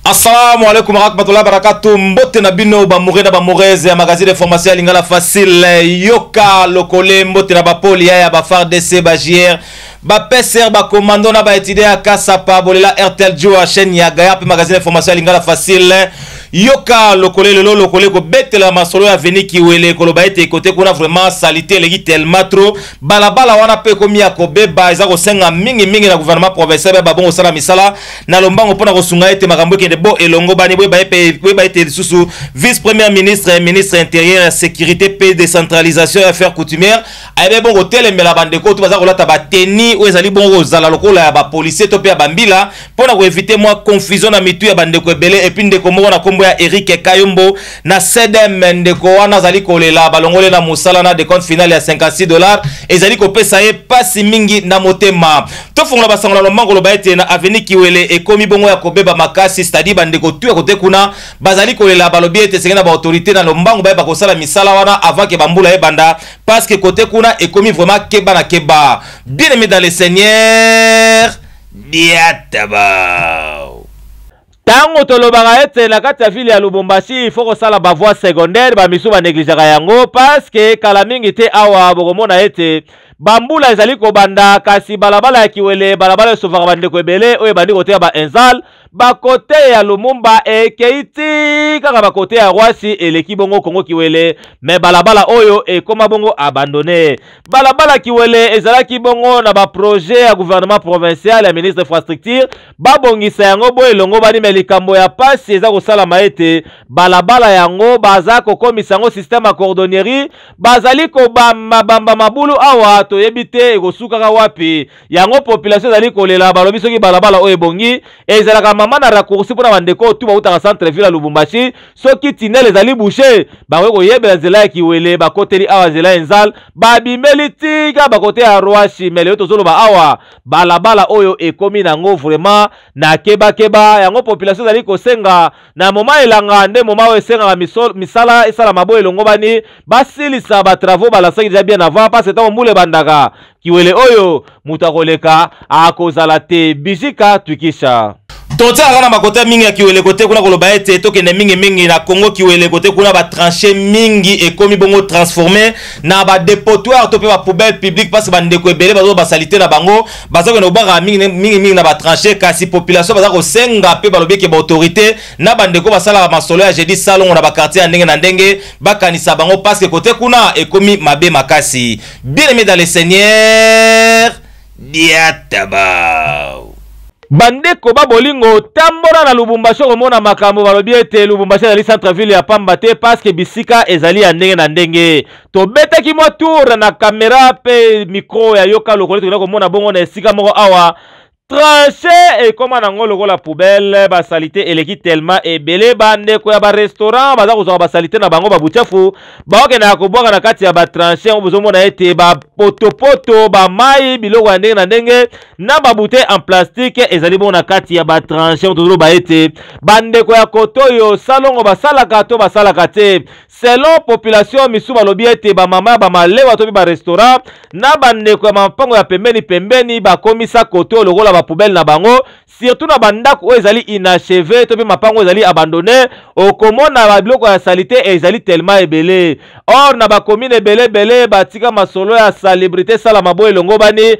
Assalamu alaikum warahmatullahi wabarakatuh. Mbote na bino ba mure na ba mureze ya magazine de formation ya lingala facile. Yoka lokole mbote na ba poli ya ba FARDC ba JR. Ba PSR ba commando na ba étudiants ya Kasapa bolela RTL Joa chaîne ya Gaya pe magazine de formation ya lingala facile. Yoka lokole lelo lokole ko betela masolo ya Veni Kiwele koloba ete kote kuna vraiment salite eleki tellement trop. Balabala wana pe komi ya kobeba eza kosenga mingi mingi na gouvernement provincial ba bongo sala misala na lombango mpo na kosunga ete makambo ekende bo elongobani boyeba ete lisusu vice première ministre ya ministre intérieur ya sécurité mpe décentralisation ya affaire coutumière ayebi bongo kotelemela bandeko to baza kolata bateni oyo ezali bongo kozala lokola ya bapolisier to mpe ya bambila mpo na koevite mwa confusion na mitu ya bandeko ebele epuis ndeko moko na nkombo ya eric kayombo na cdm ndeko wana azali kolela balongole na mosala na decompte finale ya 56 dollar ezali kopesa ye pasi mingi na motema tofungola basango na lombango loba ete na aveni kiwele ekomi bongo ya kobeba makasi stadi bandeko tu ya kote kuna bazali kolela balobi ete esengeli na baautorité na lombango bayeba kosala misala wana avant ke bambula ebanda parce que kote kuna ekomi vraiment keba na keba bien aimé dans le seigneur diataba Tango tolobaka ete na kati ya ville ya Lubumbashi il faut kosala ba voies secondaires, ba misusu ba negligeaka yango parce que kala mingi te awa bokomona ete ba mbula ezali kobanda kasi balabala ya Kiwele, balabala esovaka ba ndeko ebele oyo ebandi kote ya ba Enzal, ba kote ya Lumumba ekeyi ti kaka ba kote ya Roissy eleki bongo Kongo Kiwele mais balabala oyo ekoma bongo abandonne. Balabala Kiwele ezalaki bongo na ba projets ya gouvernement provincial ya ministre infrastructure babongisa yango bo elongobani me likambo ya pasi eza kosalama ete balabala yango baza kokomisa yango système ya cordonnerie bazali kobamba bamba mabulu awa toyebi te ekosukaka wapi yango population ezali kolela balobi soki balabala oyo ebongi ezalaka mama na raccourci mpona bandeko oyo tu bautaka centre ville ya lubumbashi soki tinel ezali bouche bakoki koyebela nzela ya kiwele bakoteli awa nzela ya enzal babimeli tika bakote ya rwashi me lelo tozoloba awa balabala oyo ekomi nango vraiment na keba keba yango population ezali kosenga na moma elanga nde moma oyo esengaka misala esalama bo elongobani basilisa ba travaux balansaki deja bien avant parce ntango mbula ebandaka kiwele oyo moto akoleka akozala te bijika twikisha totiaka na bakota mingi ya kiweleko te kuna koloba ete tokende mingimingi na congo kiweleko te kuna batranche mingi ekomi bongo transforme na badepotoire to mpe bapoubelle publique mpasi bandeko ebele bazo basalite na bango baza kende kobaka mingimingi na batranche kasi population baza kosenga mpe balobi eke baautorité na bandeko basalaka masolo ya jeudi salongo na bakartier ya ndenge na ndenge bakanisa bango paske kote kuna ekomi mabe makasi bien aimé dans le seigneur diataba Bandeko ba bolingo, tambola na Lubumbashi okomona makambo. Balobi ete Lubumbashi ezali centre ville ya pamba te parce que bisika ezali ya ndenge na ndenge. Tobetaki mwa tour na camera pe micro ya Yoka Lokole tokenda komona bongo na esika moko awa tranche ekoma nango lokola poubelle ba salite eleki tellement ebele ba ndeko ya ba restaurant baza kozwa ba salite na bango ba buchafu baokendaka kobwaka na kati ya ba tranche yango bozomona ete ba potopoto ba mai biloko ya ndenge na ndenge na babouteille en plastique ezali bongo na kati ya batranche oyo tozoloba ete bandeko ya koto oyo salongo basalaka to basalaka te selon population misusu balobi ete bamama ya bamalewa to mpe barestaurant na bandeko ya mapango ya pembeni pembeni bakomisa koto oyo lokola bapoubele na bango surtout na bandako oyo ezali inacheve to mpe mapango oyo ezali abandonne okomona babiloko ya salite ezali telema ebele or na bakomine ebele ebele batika masolo ya salubrité esalama boye elongobani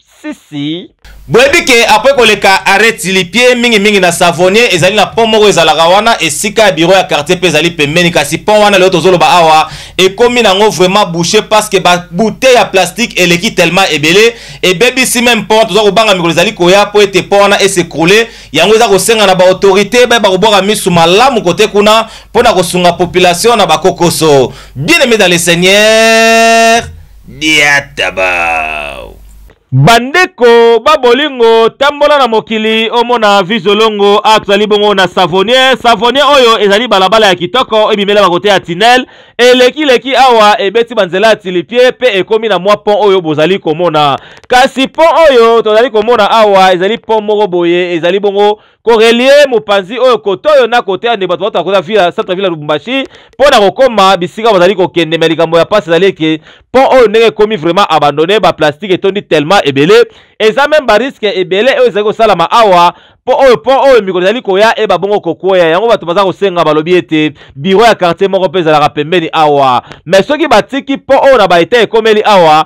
Si si. Boyebi ke apres koleka arret tilipie mingi mingi na savonnier ezali na pont moko ezalaka wana esika ya bureau ya quartier pe ezali pembeni kasi pont wana lelo tozoloba awa ekomi nango vraiment bouche parce que ba bouteille ya plastique eleki tellement ebele ebebisi même pont toza kobanga mikolo ezali koya po ete pont wana esekroule yango eza kosenga na ba autorité bayeba kobwaka misu malamu kote kuna pona kosunga population na bakokoso bien aimé dans le seigneur Diatabau. Bandeko ba bolingo tambola na mokili omona vue zolongo awa tozali bongo na savonier savonier oyo ezali balabala ya kitoko ebimela ba kote ya tunnel eleki leki awa ebeti banzela ya tilipie pe ekomi na mwa pont oyo bozali komona kasi pont oyo tozali komona awa ezali pont moko boye ezali bongo korelie mopanzi oyo kote oyo na kote ya nde bato bauta koza vila centre ville ya lubumbashi mpo na kokoma bisika bazali kokende me likambo ya mpasi ezali eke mpo oyo ndenge ekomi vraiment abandonne baplastique etondi tellement ebele eza meme bariske ebele oyo ezali kosalama awa mpo oyo mpo oyo mikolo ezali koya eba bongo kokwea yango bato baza kosenga balobi ete biro ya quartier moko mpe ezalaka pembeni awa me soki batiki mpo oyo na baeta ekomeli awa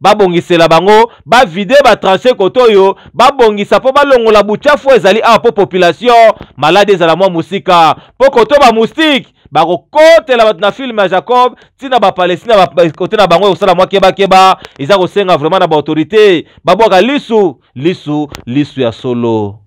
babongisela bango bavide batranche kote oyo babongisa mpo balongola buchafu oyo ezali awa mpo population maladi ezala mwa mosika mpo koto bamoustike bakokotela bato na filme ya jacob ntina bapalestina kote na bango ekosala mwa kebakeba eza kosenga vraimen na baautorité babwaka lisu lisu lisu ya solo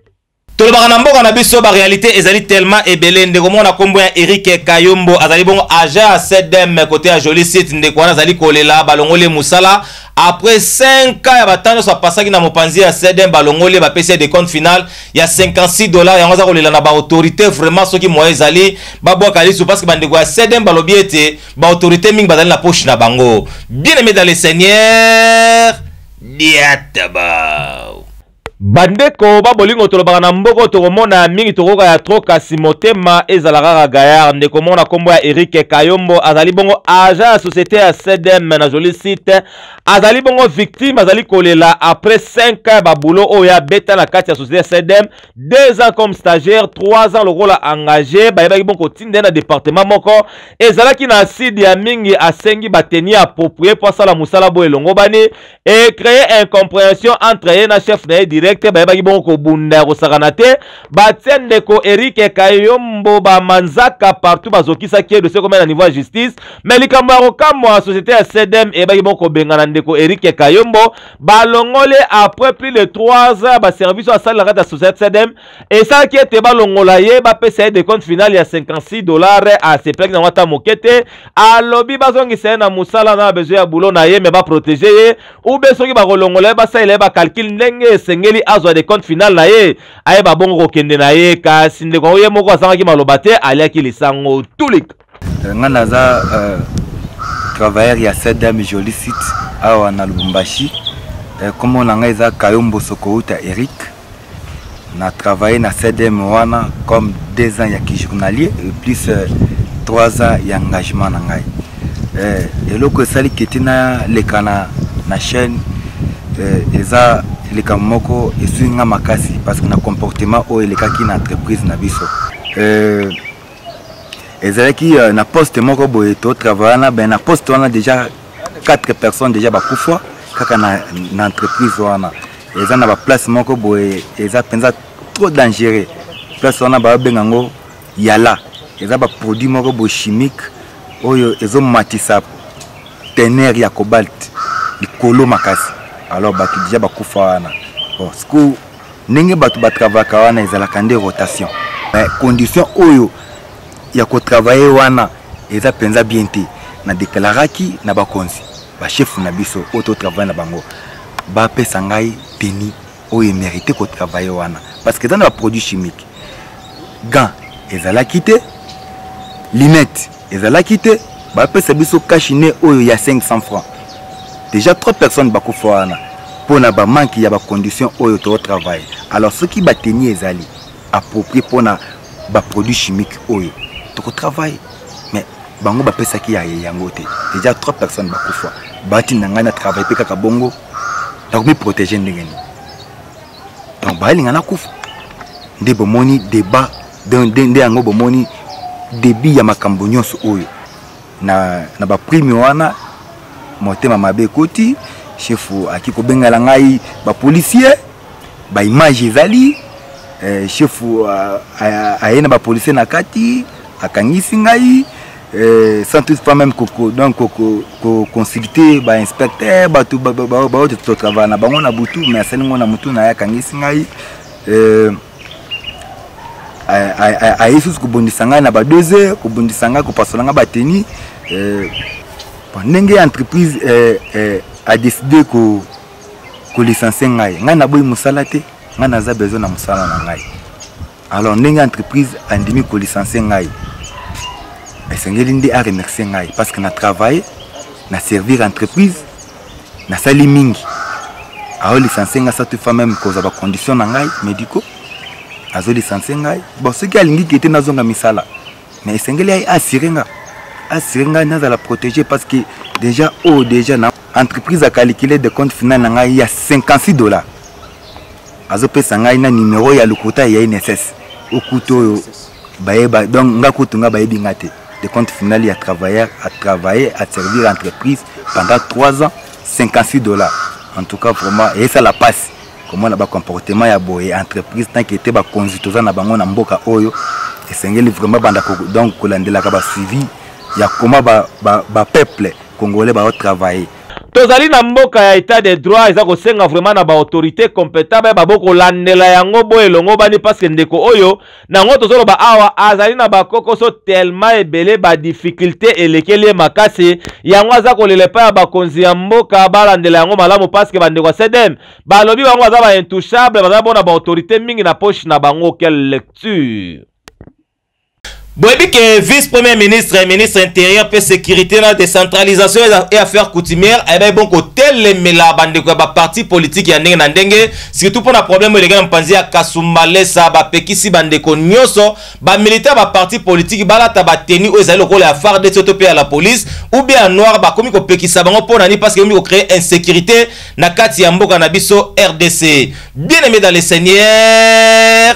tolobaka na mboka na biso ba réalité ezali tellement ebele ndeko moko na kombo ya Eric Kayombo azali bongo agent ya CDM côté ya Jolie Site ndeko wana azali kolela balongoli musala après 5 ans ya batano nyonso apasaki na mopanzi ya CDM balongoli bapesi de compte final ya 56 dollars yango aza kolela na ba autorité vraiment soki moyen ezali babwaka lisu parce que bandeko ya CDM balobi ete ba autorité mingi bazali na poche na bango bien aimé dans le Seigneur diataba Bandeko ba bolingo tolobaka na mboko tokomona ya mingi tokoka ya trop kasi motema ezala kaka gayard ndeko moko na kombo ya Eric Kayombo azali bongo agent ya societe ya CDM na jolie site azali bongo victime azali kolela après 5 ans ba boulot oyo abeta na kati ya societe ya CDM 2 ans comme stagiaire 3 ans lokola engagé bayebaki bongo kotinda na département moko ezalaki na acide ya mingi asengi ba tenue approprié mpo asala mosala boye elongobani e cree incomprehension entre ye na chef na ye direct bayebaki bongo kobunda ya kosakana te batie ndeko erike kayombo bamanzaka partout bazokisaki ye dosie komia na niveau ya justice me likambo ya kokamwa société ya cdm eyebaki bongo kobengana ndeko erike kayombo balongole après plus de 3 ans baservice oyo asalelaka kati ya société cdm esalaki ete balongola ye bapesa ye decompte finale ya 56 dollars asepelaki nango ata moke te alobi bazongisa ye na mosala na besoin ya boulot na ye me baprotege ye ube soki bakolongola ye basalela ye bacalcule ndenge esengeli azwa decompte finale na ye ayeba bongo kokende na ye kasi ndeko yango ye moko azangaki maloba te aliaki lisango tulik Euh, nga naza euh, travailleur ya sedam jolie site awa na lubumbashi euh, kombo na ngai eza kayombo sokouta eric na travaille na sedem wana comme deux ans ya kijournalier et plus euh, trois ans ya engagement na ngai euh, eloko esali keti naleka na, na chaîne euh, eza likambo moko esui nga makasi parce que na comportement oyo elekaki na entreprise na biso euh, ezalaki euh, na poste moko boye to travailla na ben na poste wana déjà quatre personnes déjà bakufa kaka na, na entreprise wana eza na baplace moko boye eza mpenza trop dangereux place wana babenga yango yala eza baproduit moko boye chimique oyo ezomatisa tenere ya cobalt likolo makasi alors bato deja bakufa wana bon sikoyo ndenge bato batravaka wana ezalaka nde rotation mais condition oyo ya kotravaye wana eza mpenza bien te na deklaraki na bakonzi bashefu na biso oyo totravaye na bango bapesa ngai teni oyo emerite kotravaye wana parce que eza na baproduit chimique gant ezalaki te linete ezalaki te bapesa biso cash ne oyo ya 500 francs déjà trois personnes bakufa wana mpo na bamanke ya bacondition oyo tootravaille alors soki bateni ezali approprie mpo na baproduit chimique oyo tokotravaille mais bango bapesaki ya yango te déjà trois personnes bakufa batinda ngai na travaille mpe kaka bongo nakomi protege ndenge nini donc bayelinga nakufa nde bomoni débat nde yango bomoni débit ya makambo nyonso oyo na, na baprime wana motema mabe ekoti chefu aki kobengela ngai bapolisier baimage ezali eh, chefu aye na bapolisier na kati akangisi ngai Euh, sans tout pas même koko donc koko ko consulter ba inspecteur bato baoyo totravaille na bango na butu mais asali ngo na motu na ye akangisi ngai euh, aye susu kobundisa ngai na ba 2 heures kobundisa ngai kopasola ngai bateni euh, ndenge entreprise adeside kolicense ngai ngai naboyi mosala te ngai naza besoin na mosala na ngai alors ndenge entreprise andimi kolicense ngai esengeli nde aremercie ngai parce que na travaille na servir entreprise nasali mingi aolicense ngai satu fa meme kozwa bacondition na ngai médicaux azolicense ngai bon soki alingi ke te nazonga misala mais esengeli aye asire nga asire ngai nazala protégé parce que déjà oyo oh, déjà na entreprise akalikile de compte final na ngai ya 56 dollars azopesa ngai na numero ya lokuta ya inss okuta oyo bayeba donc nga kutu nga bayebi nga te de compte final ya travailleur a travaille a servir entreprise pendant 3 ans 58 dollars en tout cas vraiment eyesala mpasi komona bacomportement ya boye entreprise tanke te bakonzi toza na bango na mboka oyo esengeli vraiment banda donc kolandelaka basuivi ya koma bapeuple ba, ba congolais baotravaille tozali na mboka ya etat de droit eza kosenga vraiment na baautorité competent bayeba bokolandela yango bo elongobani parceke ndeko oyo na yango tozoloba awa azali na bakokoso tellement ebele badifficulté elekeli ye makasi yango aza kolela epai ya bakonzi ya mboka balandela yango malamu parceke bandeko ya cdm balobi bango baza baintouchable baza bona baautorité mingi na poche na bango quelle lecture boyebi ke vice premier ministre ministre intérieur mpe sécurité na décentralisation et affaire coutumière ayebaki eh bon kotelemela bandeko ya baparti politike ya ndenge na ndenge surtout mpo na problème eleki na mpanzi ya kasumbalesa bapekisi bandeko nyonso bamilita ya baparti politike balata bateni oyo ezali lokola ya fardc to mpe ya la police ou bien ya noir bakomi kopekisa bango mpo na nini parce que ekomi kocreye insécurité na kati ya mboka na biso rdc bien aimé dans le seigneur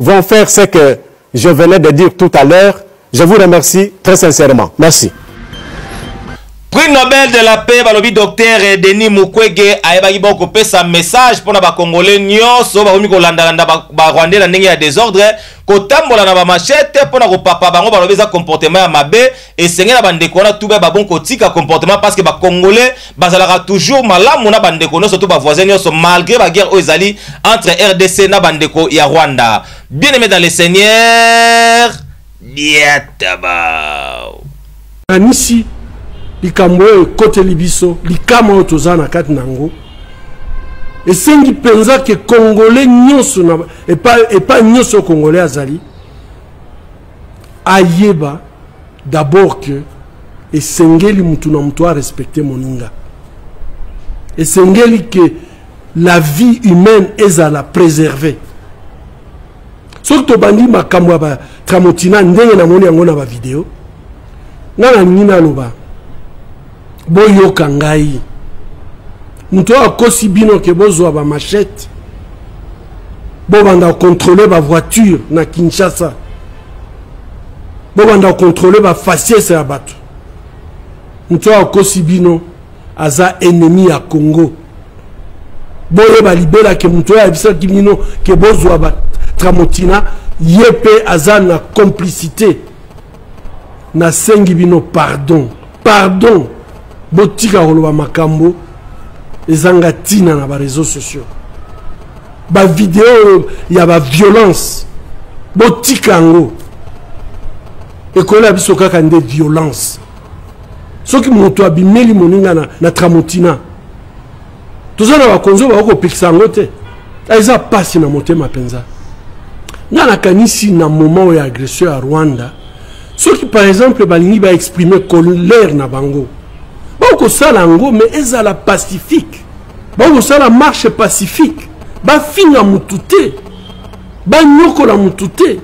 vont faire ce que je venais de dire tout à l'heure. Je vous remercie très sincèrement. Merci. prix nobel de la paix balobi docteur denis mukwege ayebaki bo kopesa message mpona bacongolais nyonso bakomi kolandalanda barwandais na ndenge ya desordre kotambola na bamachete mpona kopapa bango balobi eza comportement ya mabe esenge na bandeko wana tuba babon kotika comportement parce que bacongolais bazalaka toujours malamu na bandeko nyonso to bavoisin nyonso malgré baguerre oyo ezali entre rdc na bandeko ya rwanda bien aimé dans le seigneur diatabao kanisi likambo oyo ekoteli biso likama oyo toza na kati na yango esengi mpenza ke congolais nyonso epai nyonso congolais azali ayeba d'abord que esengeli mutu na mutu arespecte moninga esengeli ke la vie humaine ezala préservée soki tobandi makambo ya batramotina ndenge namoni yango na bavideo ngai nalingi naloba boyoka ngai moto oyo akosi bino ke bozwa bamachete bobanda kocontrole bavoiture na kinshasa bobanda kocontrole bafaciese ya bato moto oyo akosi bino aza ennemi ya congo boyeba libela ke moto oyo ayebisaki bino ke bozwa batramotina ye mpe aza na complicité nasengi bino pardon pardon botika koloba makambo ezanga ntina na bareseau sociaux bavideo ya baviolence botika yango ekolo ya biso kaka nde violence soki moto abimeli moninga na, na tramotina toza na bakonzi oyo bakokopekisa yango te ah, eza mpasi na motema mpenza nga nakanisi na moment oyo ya agression ya rwanda soki par exemple balingi baexprime colère na bango bakosala yango mais ezala pacifique bakosala marche pacifique bafinga motu te banyokola motu te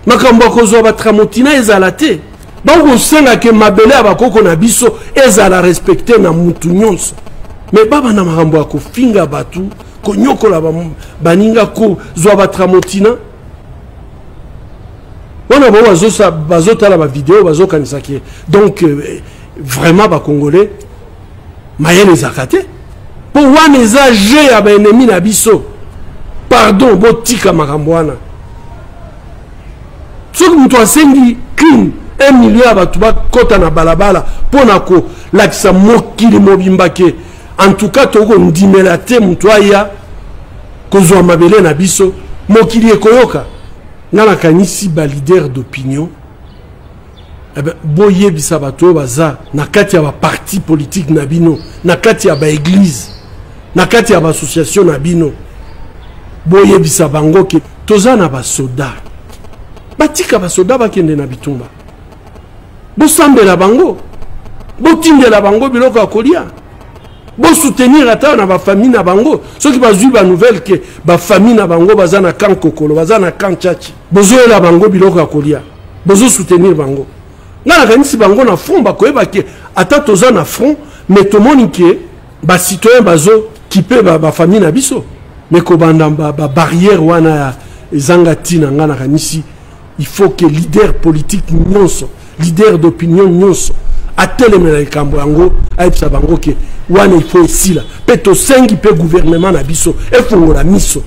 makambo ya kozwa batramotina ezala te bakosenga ke mabele ya bakoko na biso ezala respecte na mutu nyonso me baba na makambo ya kofinga bato konyokola baninga kozwa batramotina wana bango bazotala bavideo bazokanisa ke donc euh, vraiment bacongolais mayele ezalaka te mpo wana eza jeu ya baennemi na biso pardon botika makambo wana soki moto asengi kin un million ya bato bakɔta na balabala mpo na kolakisa mokili mobimba ke en tout cas tokoki kondimela te moto aya kozwa mabele na biso mokili ekoyoka nga nakanisi balider d'opinion Eh ben, boyebisa bato oyo baza na kati ya baparti politike na bino na kati ya baeglize na kati ya baassociation na bino boyebisa bango ke toza na basoda batika basoda bakende na bitumba bosambela bango botindela bango biloko ya kolia bosoutenir ata na bafamille na bango soki bazwi banouvelle ke bafamille na bango baza na kan kokolo baza na kan chachi bozoyela bango biloko ya kolia bozo soutenir bango nga nakanisi bango na front bakoyeba ke ata toza na front mais tomoni ke bacitoyen bazo kipe bafamille ba na biso mais kobanda babarrière ba wana ya ezanga ntina nga nakanisi il faut que leader politique nyonso leader d'opinion nyonso atelemela likambo yango ayebisa bango ke wana ifo esila mpe tosengi mpe guvernema na biso efongola miso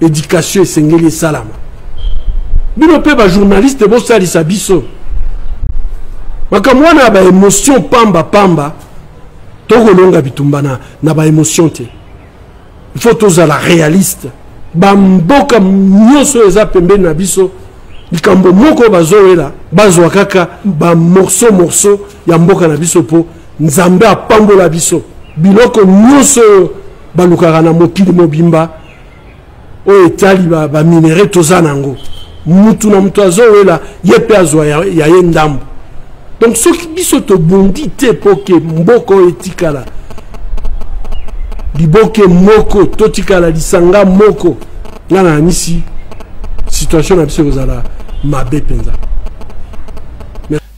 edikatio esengeli esalama bino mpe bajournaliste bosalisa biso makambo wana ya baemotion pamba pamba tokolonga bitumba na, na baemotion te il faut tozala réaliste bamboka nyonso eza pembeni na biso likambo moko bazowela bazwa kaka bamorso morso ya mboka na biso mpo nzambe apambola biso biloko nyonso oyo balukaka na mokili mobimba oyo etali baminere ba toza na yango mutu na mutu azowela ye mpe azwa ya, ya ye ndambo donc soki biso tobundi te mpo ke mboka oyo etikala liboke moko totikala lisanga moko nga nayanisi situation na biso ekozala mabe mpenza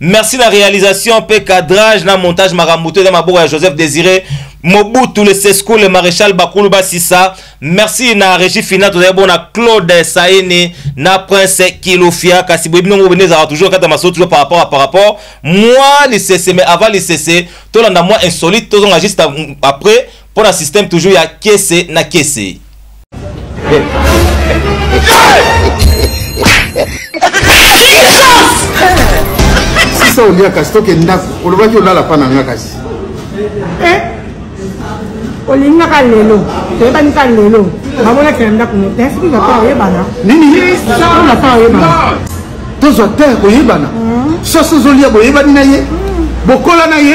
merci na réalisation mpe cadrage na montage makambo to eza maboko ya joseph désiré mobutu le sesco le maréchal bakulu basisa merci na régi fina tozali bona claude saini na prince kilofia kasi boyebi ndongo bende ezalaka toujours kati ya masolo toujours par rapport à par rapport mwa lisese mais avant lisese tolanda mwa insolite tozonga juste après mpo na système toujours ya kese na kese sisa olia kasi toke ndako olobaki olala mpa na nga kasi eh? olingaka lelo toyebani ka lelo bamonakela ndako mote soki na mpa oyebana nini na mpa oyebana tozwa te koyebana hmm. soso ozolia boyebani na ye hmm. bokola na ye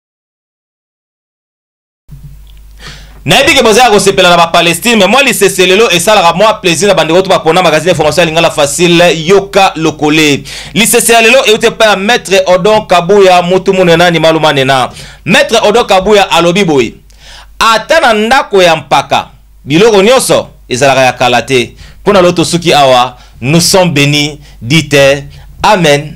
nayebi ke boza ya kosepela na bapalestine me mwa lisese lelo esalaka mwa plaisir na bandeko to bapona magazine ya information ya lingala facile yoka lokole lisese ya lelo euti epai ya maître odon kabuya mutu munena nimalu manena maître odon kabuya alobi boye ata na ndako ya mpaka Biloko nionso ezalaka ya kala te pona lo tosuki awa nous sommes beni dite amen.